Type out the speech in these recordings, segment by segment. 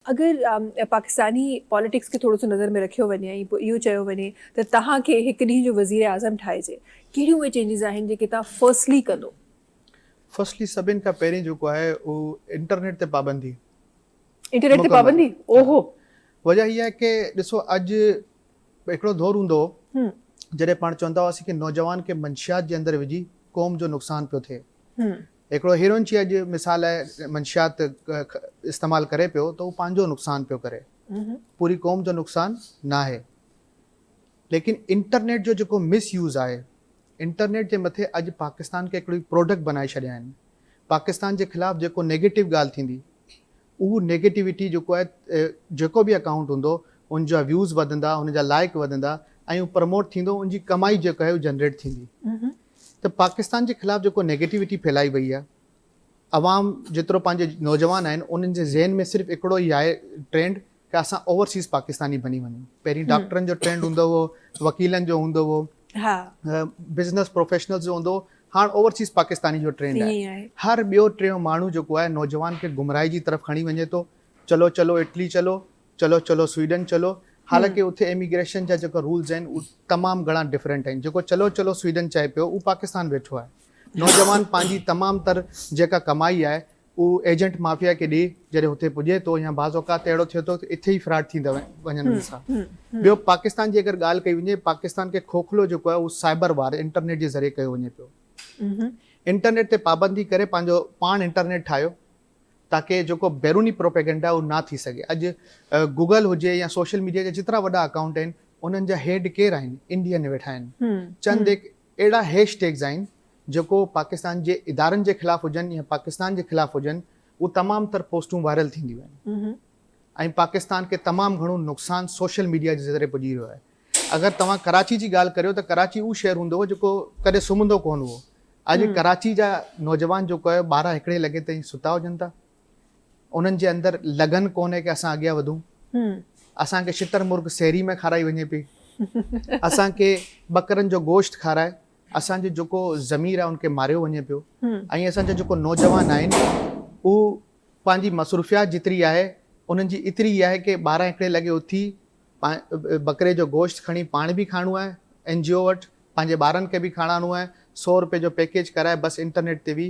اگر پاڪستاني پاليٽڪس کي ٿورو سو نظر ۾ رکيو وڃي ۽ پوء اهو چيو وڃي ته تهان کي هڪ ڏينهن جو وزير اعظم ٺاهجي ڪهڙيون اهي چينجز آهن جيڪي تهان فرسٽلي ڪندو؟ فرسٽلي سڀني کان پهرين جيڪو آهي اهو انٽرنيٽ تي پابندي. انٽرنيٽ تي پابندي او هو. وجه هي آهي ڪي ڏسو اڄ هڪڙو دور هوندو هو جڏهن پاڻ چوندا هئاسين ڪي نوجوان کي منشيات جي اندر وجهي قوم جو نقصان پيو ٿئي. هڪڙو هيروئن جي اڄ مثال لاء منشيات استعمال ڪري پيو ته هو پنهنجو نقصان پيو ڪري پوري قوم جو نقصان ناهي ليڪن انٽرنيٽ جو جيڪو مس يوز آهي انٽرنيٽ جي مٿي اڄ پاڪستان کي هڪڙي پروڊڪٽ بنائي ڇڏيا آهن پاڪستان جي خلاف جيڪو نيگيٽو ڳالهه ٿيندي اهو نيگيٽوٽي جيڪو آهي جيڪو به اڪائونٽ هوندو ان جا ويوز وڌندا ان جا لائق وڌندا ۽ اهو پروموٽ ٿيندو ان جي ڪمائي جيڪا آهي اهو جنريٽ ٿيندي ته پاڪستان جي خلاف جيڪو نيگيٽوٽي ڦهلائي وئي آهي عوام جيترو پنهنجي نوجوان آهن انهن جي ذهن ۾ صرف هڪڙو ئي آهي ٽرينڊ ته اسان اوورسيز پاڪستاني بني وڃون پهرين ڊاڪٽرن جو ٽرينڊ هوندو هو وڪيلن جو هوندو هو بزنس پروفيشنلز جو هوندو هو هاڻ اوورسيز پاڪستاني جو ٽرينڊ آهي هر ٻيو ٽيون ماڻهو جيڪو آهي نوجوان کي گمراهي جي طرف کڻي وڃي ٿو چلو چلو اٽلي چلو چلو چلو سوئيڊن چلو حالانڪه اتي اميگريشن جا جيڪا رولز آهن اهي تمام گهڻا ڊفرنٽ آهن جيڪو چلو چلو سوئيڊن چئي پيو اهو پاڪستان ويٺو آهي نوجوان پنهنجي تمام تر جيڪا ڪمائي آهي هو ايجنٽ مافيا کي ڏي جڏهن هتي پڄي ٿو يا بعض اوقات ته اهڙو ٿئي ٿو ته اٿي ئي فراڊ ٿيندا وڃن انهن سان. ٻيو پاڪستان جي اگر ڳالهه ڪئي وڃي پاڪستان کي کوکلو جيڪو آهي اهو سائبر وار انٽرنيٽ جي ذريعي ڪيو وڃي پيو. انٽرنيٽ تي پابندي ڪري پنهنجو پاڻ انٽرنيٽ ٺاهيو تاڪه جيڪو بيروني پروپيگنڊا اهو نه ٿي سگهي. اڄ گوگل هجي يا سوشل ميڊيا جا جيترا وڏا اڪائونٽ آهن انهن جا هيڊ ڪير آهن؟ انڊين ويٺا آهن. چند هڪ اهڙا هيش ٽيگز آهن جيڪو پاڪستان جي ادارن جي خلاف هجن يا پاڪستان جي خلاف هجن اهو تمام تر پوسٽون وائرل ٿينديون آهن ۽ پاڪستان کي تمام گهڻو نقصان سوشل ميڊيا جي ذريعي پڄي رهيو آهي اگر توهان ڪراچي جي ڳالهه ڪريو ته ڪراچي اهو شهر هوندو هو جيڪو ڪڏهن سمهندو ڪونه هئو اڄ ڪراچي جا نوجوان جيڪو آهي ٻارهن هڪڙي لڳي تائين ستا هجن ٿا انهن جي اندر لگن ڪونهي ڪي اسان اڳيان وڌون اسان کي شتر مرغ سحري ۾ کارائي وڃي پئي اسان کي ٻڪرن جو گوشت کارائي اسان جو جيڪو ضمير آهي ان کي ماريو وڃي پيو ۽ اسان جا جيڪو نوجوان آهن اهو پنهنجي مصروفيات جيتري آهي انهن جي ايتري ئي آهي ڪي ٻارهن هڪڙي لڳي اٿي ٻڪري جو گوشت کڻي پاڻ به کائڻو آهي اين جي او وٽ پنهنجي ٻارن کي به کاراڻو آهي سو روپئي جو پيڪيج ڪرائي بس انٽرنيٽ تي وي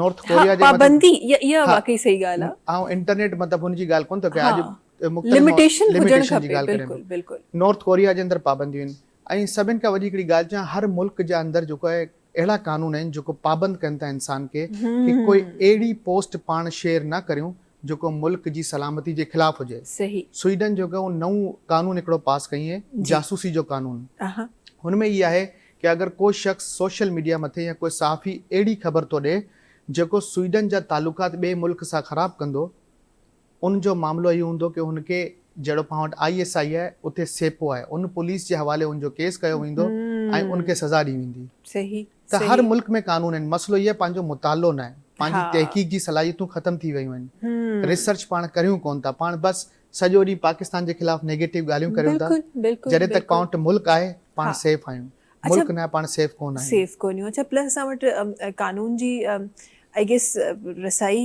نارٿ ڪوريا جي مطلب پابندي اها واقعي صحيح ڳالهه آهي. آئون انٽرنيٽ مطلب ان جي ڳالهه ڪونه ٿو ڪريان اڄ مختلف لميٽيشن هجڻ کپي بلڪل بلڪل. نارٿ ڪوريا جي اندر پابنديون آهن ۽ سڀن کان وڏي هڪڙي ڳالهه چيان هر ملڪ جي اندر جيڪو آهي اهڙا قانون آهن جيڪو پابند ڪن ٿا انسان کي ڪي ڪوئي اهڙي پوسٽ پاڻ شيئر نه ڪريون جيڪو ملڪ جي سلامتي جي خلاف هجي. سوئيڊن جو ڪو نئون قانون هڪڙو پاس ڪيئين جاسوسي جو قانون. هن ۾ هي آهي ڪي اگر ڪو شخص سوشل ميڊيا مٿي يا ڪو صحافي اهڙي خبر ٿو ڏي جيڪو سوئيڊن جا تعلقات ٻئي ملڪ سان خراب ڪندو ان جو معاملو هي هوندو ڪي هن کي جهڙو پاڻ وٽ آئي ايس آئي آهي اتي سيپو آهي ان پوليس جي حوالي ان جو ڪيس ڪيو ويندو ۽ ان کي سزا ڏي ويندي. ته هر ملڪ ۾ قانون آهن مسئلو هي آهي پنهنجو مطالعو نه آهي پنهنجي تحقيق جي صلاحيتون ختم ٿي ويون آهن ريسرچ پاڻ ڪريون ڪون ٿا پاڻ بس سڄو ڏينهن پاڪستان جي خلاف نيگيٽو ڳالهيون ڪريون ٿا جڏهن ته ڪائونٽ ملڪ آهي پاڻ سيف آهيون ملڪ نه آهي پاڻ سيف ڪون آهيون. سيف ڪون آهيون اڇا پلس اسان وٽ قانون جي آئي گيس رسائي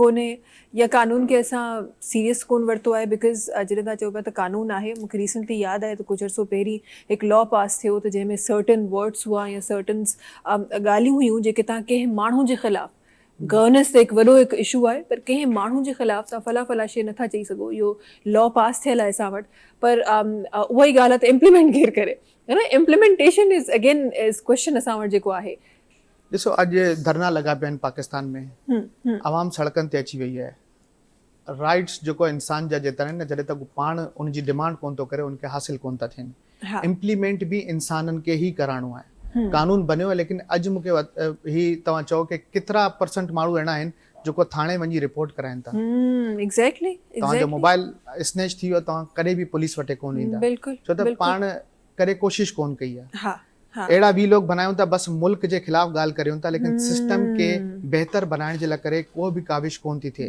ڪونهي يا قانون کي اسان سيريس ڪون ورتو آهي بڪاز جڏهن توهان چئو پيا ته قانون آهي مونکي ريسنٽلي ياد آهي ته ڪجهه عرصو پهرين هڪ لا پاس ٿيو ته جنهن ۾ سرٽن ورڊس هئا يا سرٽن ڳالهيون هيون جيڪي توهان ڪنهن ماڻهو جي خلاف گورننس ته هڪ وڏو هڪ اشو آهي پر ڪنهن ماڻهو جي خلاف توهان فلا فلا شي نٿا چئي سگهو اهو لا پاس ٿيل آهي اسان وٽ پر اهائي ڳالهه آهي ته امپليمينٽ ڪير ڪري ها نه implementation is again is question اسان وٽ جيڪو آهي ڏسو اڄ ڌرنا لڳا پيا آهن پاڪستان ۾ عوام سڙڪن تي اچي وئي آهي رائٽس جيڪو آهي انسان جا جيترا آهن نه جڏهن تڪ هو پاڻ ان جي ڊيمانڊ ڪونه ٿو ڪري ان کي حاصل ڪونه ٿا ٿين امپليمينٽ به انسانن کي ئي ڪرائڻو آهي قانون بنيو آهي ليڪن اڄ مون کي هي توهان چئو ڪي ڪيترا پرسنٽ ماڻهو اهڙا آهن جيڪو ٿاڻي وڃي رپورٽ ڪرائين ٿا ايگزيڪٽلي توهان جو موبائل اسنيچ ٿي ويو توهان ڪڏهن به پوليس وٽي ڪونه ايندا ڇو ته پاڻ ڪڏهن ڪوشش ڪونه ڪئي آهي ها. اهڙا وي لوگ بنايون ته بس ملڪ جي خلاف ڳالهه ڪريون ٿا ليڪن سسٽم کي بهتر بنائڻ جي لاء ڪري ڪو به ڪاوش ڪون ٿي ٿئي.